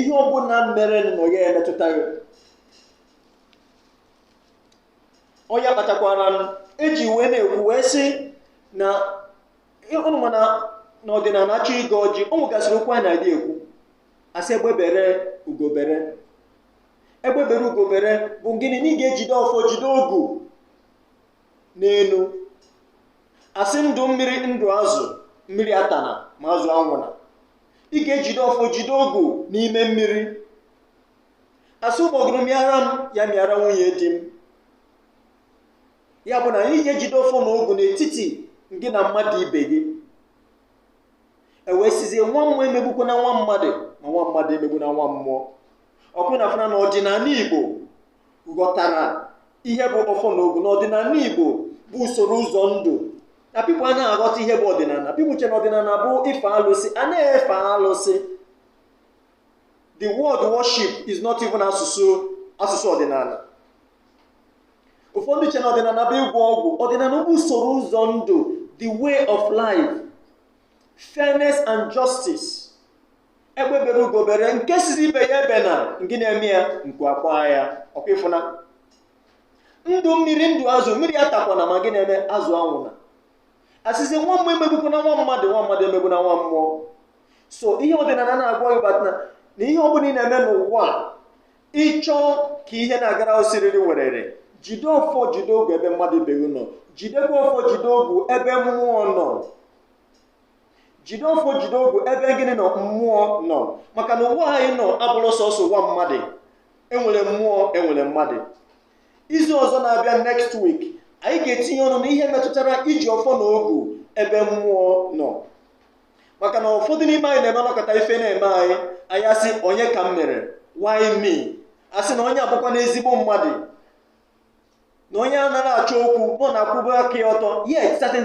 ihe ọ bụla mere na ya emetụta gị ọ ya kpatakwara eji wee na-ekwu wee sị na ụnụ ma na n'ọdịnala achọ ịgọ ọjị o nwegasịrị okwu a na-adị ekwu asị egbe bere ugo bere egbe bere ugo bere bụ gịnị na ị ga-ejide ọfọ jide ogu n'elu asị ndụ mmiri ndụ azụ mmiri atana ma azụ anwụna ị ga-ejide ọfọ jide ogu n'ime mmiri asị ụgbọgụrụ mịara m ya mịara nwunye di m ya bụ na anyị ga-ejide ọfọ na ogu n'etiti gị na mmadụ ibe gị e wee sịzie nwa mmụọ emegbukwana nwa mmadụ ma nwa mmadụ emegbuna nwa mmụọ ọkwa ụnụ afụna na ọdịnala igbo ghọtara ihe bụ ọfọ na ogu na ọdịnala igbo bụ usoro ụzọ ndụ na people anaghị aghọta ihe bụ ọdịnala people che na ọdịnala bụ ife alụsị anaghị efe alụsị the word worship is not even asụsụ ọdịnala ụfọdụ che na ọdịnala bụ ịgwọ ọgwụ ọdịnala bụ usoro ụzọ ndụ the way of life fairness and justice egbe bere ugo bere nke sịzị ibe ya ebena gịnị eme ya nku akwa ya ọkwa ịfụna ndụ mmiri ndụ azụ mmiri atakwana ma gịnị eme azụ anwụna asịzi nwa mmụọ emegbukwana nwa mmadụ nwa mmadụ emegbuna nwa mmụọ so ihe ọdịnala na-agwa gị batana na ihe ọ bụla ị na-eme n'ụwa a, ị chọọ ka ihe na-agara gị siriri werere jide ọfọ jide ogu ebe mmadụ ibe gị nọ jidekwa ọfọ jide ogu ebe mmụọ nọ jide ọfọ jide ogu ebe gịnị nọ mmụọ nọ maka na ụwa anyị nọ abụrọ sọsọ ụwa mmadụ enwere mmụọ enwere mmadụ izu ọzọ na-abịa next week anyị ga-etinye ọnụ n'ihe metụtara iji ọfọ na ogu ebe mmụọ nọ maka na ụfọdụ n'ime anyị na-eme a nọkata ife na-eme anyị anyị asị onye ka m mere why me asị na onye a bụkwanụ ezigbo mmadụ na onye a anaghị achọ okwu na ọ na-akwụba aka ya ọtọ yet certain